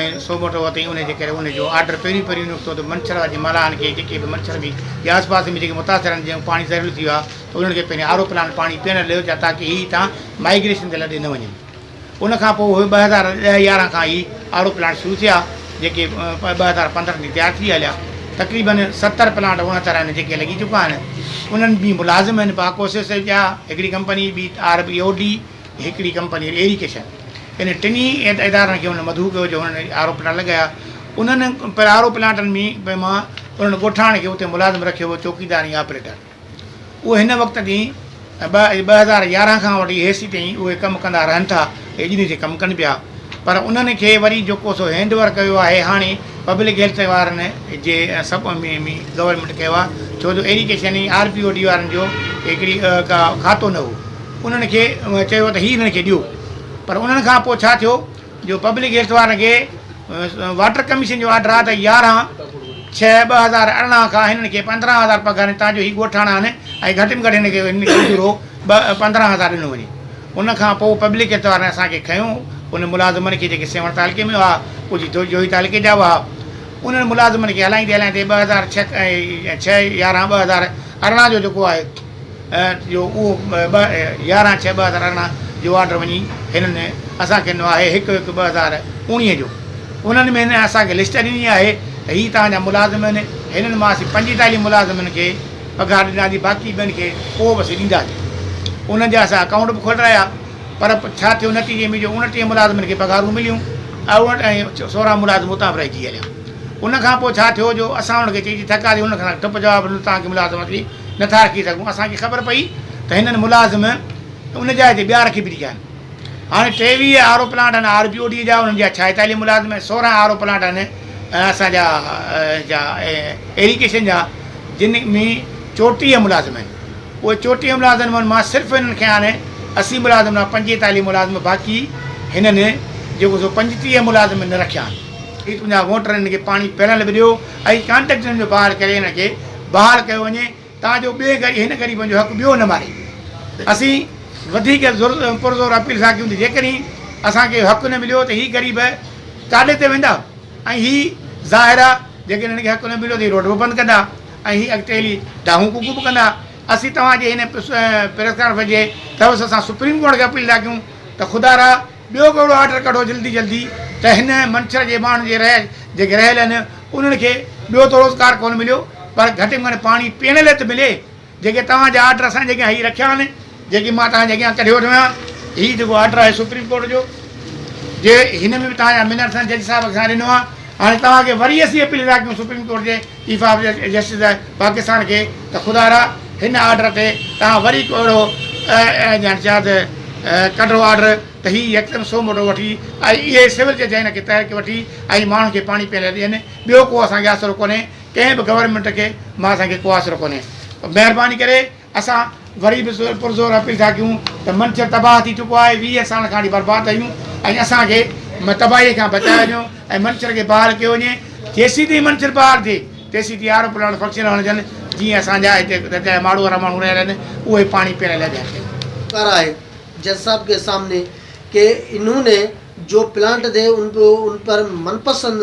۽ Suo motu وتين انهي جي ڪري انهي جو آرڊر پهريون پهريون نڪتو ته منڇر واري ملاحن کي جيڪي به منڇر ۾ يا آس پاس ۾ جيڪي متاثر آهن جنهن جو پاڻي زهريلو ٿي ويو آهي ته انهن کي پهرين آر او پلانٽ پاڻي پيئڻ لاء ڏيو تاڪه هي هتان مائگريشن تي لڏي نه وڃن ان کان پوء اهي ٻه هزار ڏهه يارهن کان هي آر او پلانٽ شروع ٿيا جيڪي ٻه هزار پندرهن تائين تيار ٿي هليا تقريبن ستر پلانٽ اڻهتر آهن جيڪي لڳي چڪا آهن انهن ۾ ملازم آهن باڪوسس جا هڪڙي ڪمپني ٻي آر بي او ڊي هڪڙي ڪمپني ايريڪيشن ان ٽنهي ادارن کي هن مدعو ڪيو جو هنن آر او پلانٽ لڳايا انهن آر او پلانٽن ۾ مان انهن ڳوٺاڻن کي اتي ملازم رکيو هو چوڪيدار ۽ آپريٽر اهي هن وقت جي ٻه ٻه هزار يارهن کان وٺي هيسي تائين اهي ڪم ڪندا رهن ٿا اڄ ڏينهن تائين ڪم ڪن پيا پر انهن کي وري جيڪو سو هينڊ اوور ڪيو آهي هاڻي پبلڪ هيلٿ وارن جي سب ۾ ۾ گورنمينٽ ڪيو آهي ڇو جو irrigation ۽ R P O D وارن جو هڪڙي ڪا کاتو نه هو انهن کي چيو ته هي هنن کي ڏيو پر انهن کان پوء ڇا ٿيو جو پبلڪ هيلٿ وارن کي واٽر ڪميشن جو آرڊر آ ته يارهن ڇهه ٻه هزار ارڙهن کان هنن کي پندرهن هزار پگهار ڏين تان جو هي ڳوٺاڻا آهن ۽ گهٽ ۾ گهٽ هن کي هن کي اجورو ٻه پندرهن هزار ڏنو وڃي ان کان پوء پبلڪ هيلٿ وارن اسان کي کنيو انهن ملازمن کي جيڪي سيوهڻ تعلقي ۾ هئا ڪجهه جو جوهي تعلقي جا هئا انهن ملازمن کي هلائيندي هلائيندي ٻه هزار ڇهه ۽ ڇهه يارهن ٻه هزار ارڙهن جو جيڪو آهي جو اهو ٻه يارهن ڇهه ٻه هزار ارڙهن جو آرڊر وڃي هنن اسان کي ڏنو آهي هڪ هڪ ٻه هزار اوڻيهه جو انهن ۾ هنن اسان کي لسٽ ڏني آهي ته هي توهان جا ملازم آهن هنن مان اسين پنجيتاليهه ملازمن کي پگهار ڏناسي باقي ٻين کي پوء به اسين ڏينداسين انهن جا اسان اڪائونٽ به کولرايا پر ڇا ٿيو نتيجي ۾ جو اوڻٽيهه ملازمن کي پگهارون مليون اوڻ ۽ سورهن ملازم اتان به رهجي هليا ان کان پوء ڇا ٿيو جو اسان انهن کي چئي چئي ٿڪاسي انهن کان ٺپ جواب ڏنو توهان کي ملازم اسين نٿا رکي سگهون. اسان کي خبر پئي ته هنن ملازم ان جاء تي ٻيا رکي ڇڏيا آهن. هاڻي ٽيويهه آر او پلانٽ آهن آر بي او ڊي جا انهن جا ڇائيتاليهه ملازم ۽ سورهن آر او پلانٽ آهن اسان جا جا ايريگيشن جا جن ۾ چوٽيهه ملازم آهن. اهي چوٽيهه ملازم من مان صرف هنن کي هاڻي اسي ملازم نه پنجيتاليهه ملازم باقي هنن جيڪو سو پنجٽيهه ملازم نه رکيا آهن. اي تنهنجا ووٽر هنن کي پاڻي پيئڻ لاء به ڏيو ۽ ڪانٽريڪٽرن جو بحال ڪري هنن کي بحال ڪيو وڃي تان جو ٻئي گهڙي هن غريبن جو حق ٻيو نه ماري ويو اسين وڌيڪ پرزور اپيل سان ڪيون ته جيڪڏهن اسان کي حق نه مليو ته هي غريب ڪاڏي تي ويندا ۽ هي ظاهر آ جيڪڏهن هن کي حق نه مليو ته هي روڊ به بند ڪندا ۽ هي اڳتي هلي ڊاهون ڪوڪون به ڪندا اسين توهان جي هن پريس ڪانفرنس جي توسط سان سپريم ڪورٽ کي اپيل ٿا ڪيون ته خدا را ٻيو ڪهڙو آرڊر ڪڍو جلدي جلدي ته هن منڇر جي ماڻهن جي رهه جيڪي رهيل آهن انهن کي ٻيو ته روزگار ڪونه مليو پر گهٽ ۾ گهٽ پاڻي پيئڻ لئه ته ملي جيڪي توهان جا آرڊر اسان جي اڳيان هي رکيا آهن جيڪي مان توهان جي اڳيان ڪڍي وٺو آهيان هي جيڪو آرڊر آهي سپريم ڪورٽ جو جي هن ۾ به توهان جا منٽس جج صاحب اسان ڏنو آهي هاڻي توهان کي وري اسين اپيل ٿا ڪيون سپريم ڪورٽ جي چيف آف جسٽس پاڪستان کي ته خدا را هن آرڊر تي توهان وري ڪو اهڙو يعني چيان ته ڪڍو آرڊر ته هي يڪدم سو موٽو وٺي ۽ اهي سول جج هن کي تحرڪ وٺي ۽ ماڻهن کي پاڻي پيئڻ لاء ڏين ٻيو ڪو اسان کي آسرو ڪونهي ڪنهن به گورنمينٽ کي مان اسان کي ڪو آسرو ڪونهي مهرباني ڪري اسان وري به پرزور اپيل ٿا ڪيون ته منڇر تباهه ٿي چڪو آهي ويهه سالن کان اڙي برباد آهيون ۽ اسان کي تباهي کان بچايو وڃو ۽ منڇر کي بحال ڪيو وڃي جيسين تائين منڇر بحال ٿئي تيسين تائين آرو پلانٽ فنڪشنل هئڻ ڏين جيئن اسان جا هتي جتي ماڙو وارا ماڻهو رهيل آهن اهي پاڻي پيئڻ لاء بحال ٿين. ڪر آهي جج صاحب ڪي سامني ڪي انهون ني جو پلانٽ دي ان پر من پسند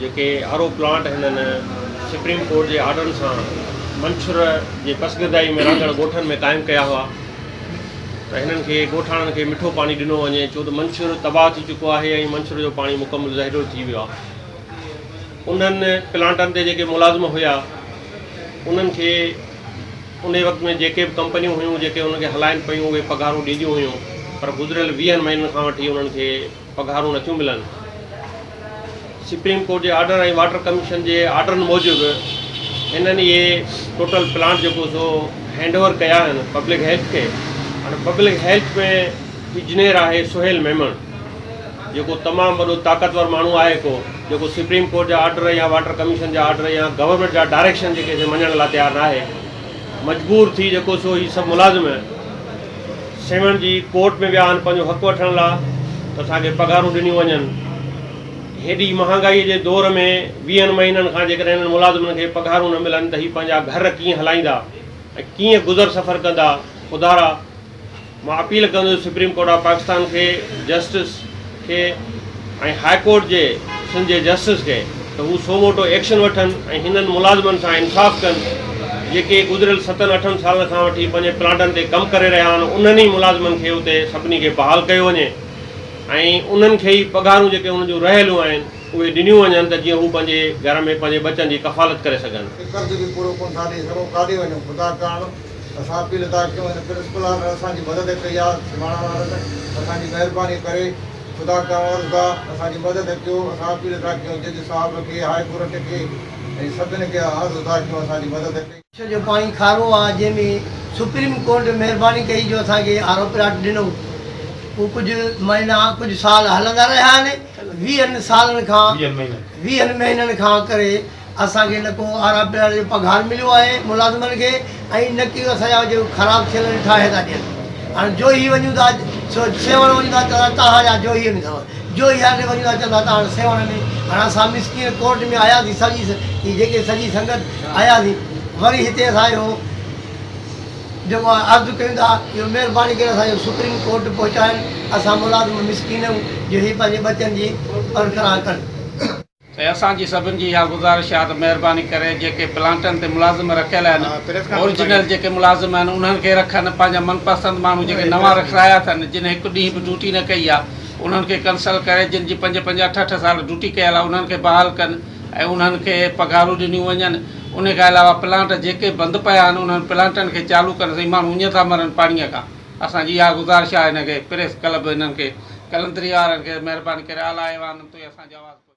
جيڪي آر او پلانٽ هنن سپريم ڪورٽ جي آرڊرن سان منڇر جي پسگردائي ۾ رهندڙ ڳوٺن ۾ قائم ڪيا هئا ته هنن کي ڳوٺاڻن کي مٺو پاڻي ڏنو وڃي ڇو ته منڇر تباهه ٿي چڪو آهي ۽ منڇر جو پاڻي مڪمل زهريلو ٿي ويو آهي انهن پلانٽن تي جيڪي ملازم هيا انهن کي ان وقت ۾ جيڪي به ڪمپنيون هيون جيڪي انهن کي هلائن پيون اهي پگهارون ڏينديون هيون پر گذريل ويهن مهينن کان وٺي انهن کي پگهارون نٿيون ملن، سپريم ڪورٽ جي آرڊر ۽ واٽر ڪميشن جي آرڊرن موجب هنن اهي ٽوٽل پلانٽ جيڪو سو هينڊ اوور ڪيا آهن پبلڪ هيلٿ کي هاڻي پبلڪ هيلٿ ۾ اجنير آهي سهيل ميمڻ جيڪو تمام وڏو طاقتور ماڻهو آهي ڪو جيڪو سپريم ڪورٽ جا آرڊر يا واٽر ڪميشن جا آرڊر يا گورنمينٽ جا ڊائريڪشن جيڪي سي مڃڻ لاء تيار ناهي مجبور ٿي جيڪو سو هي سڀ ملازم سيوهڻ جي ڪورٽ ۾ ويا آهن پنهنجو حق وٺڻ لا ته اسان کي پگهارون ڏنيون وڃن. هيڏي مهانگائي جي دور ۾ ويهن مهينن کان جيڪڏهن هنن ملازمن کي پگهارون نه ملن ته هي پنهنجا گهر ڪيئن هلائيندا ۽ ڪيئن گذر سفر ڪندا خدارا مان اپيل ڪندس سپريم ڪورٽ آف پاڪستان کي جسٽس کي ۽ هاء ڪورٽ جي سنڌ جي جسٽس کي ته هو سو موٽو ايڪشن وٺن ۽ هنن ملازمن سان انصاف ڪن جيڪي گذريل ستن اٺن سالن کان وٺي پنهنجي پلانٽن تي ڪم ڪري رهيا آهن انهن ئي ملازمن کي اتي سڀني کي بحال ڪيو وڃي ۽ انهن کي ئي پگهارون جيڪي انهن جون رهيلون آهن اهي ڏنيون وڃن ته جيئن هو پنهنجي گهر ۾ پنهنجي ٻچن جي ڪفالت ڪري سگهن. هي قرض به پورو ڪونه ٿا ڏئي سگهون ڪاڏي وڃون خدا ڪرڻ. اسان اپيل ٿا ڪيون هن پرنسپل آرڊر اسان جي مدد ڪئي آ سماڻا وارن اسان جي مهرباني ڪري خدا کان عرض آ اسان جي مدد ڪيو اسان اپيل ٿا ڪيون جج صاحب کي هاء ڪورٽ کي ۽ سڀن کي عرض ٿا ڪيون اسان جي مدد ڪئي. ڇو جو پاڻي کارو آ جنهن ۾ سپريم ڪورٽ مهرباني ڪئي جو اسان کي آر او پلاٽ ڏنو اهو ڪجهه مهينا ڪجهه سال هلندا رهيا آهن ويهن سالن کان ويهن مهينن کان ڪري اسان کي نه ڪو آر آر پي آر جو پگهار مليو آهي ملازمن کي ۽ نه ڪي اسان جا جيڪي خراب ٿيل آهن ٺاهي ٿا ڏين هاڻي جوهي وڃون ٿا سو سيوهڻ وڃون ٿا چوندا تهان جا جوهي ۾ اٿو جوهي هاري وڃون ٿا چوندا تهان جا سيوهڻ ۾ هاڻي اسان مسڪين ڪورٽ ۾ آياسي سڄي هي جيڪي سڄي سنگت آياسي وري هتي اسان جو جيڪو آهي عرض ڪيون ٿا جو مهرباني ڪري اسان جو سپريم ڪورٽ پهچائن اسان ملازم مسڪين آهيون جو هي پنهنجي ٻچن جي برقرار ڪن ته اسان جي سڀن جي اها گذارش آهي ته مهرباني ڪري جيڪي پلانٽن تي ملازم رکيل آهن اورجنل جيڪي ملازم آهن انهن کي رکن پنهنجا من پسند ماڻهو جيڪي نوان رکرايا اٿن جن هڪ ڏينهن به ڊيوٽي نه ڪئي آهي انهن کي ڪنسل ڪري جن جي پنج پنج اٺ اٺ سال ڊيوٽي ڪيل آهي انهن کي بحال ڪن ۽ انهن کي پگهارون ڏنيون وڃن انهي کان علاوه پلانٽ جيڪي بند پيا آهن انهن پلانٽن کي چالو ڪن سائين ماڻهو اڃ ٿا مرن پاڻي کان اسان جي اها گذارش آهي هن کي پريس ڪلب هنن کي قلندري وارن کي مهرباني ڪري اعليٰ ايوان تي اسان جي آواز پهچي.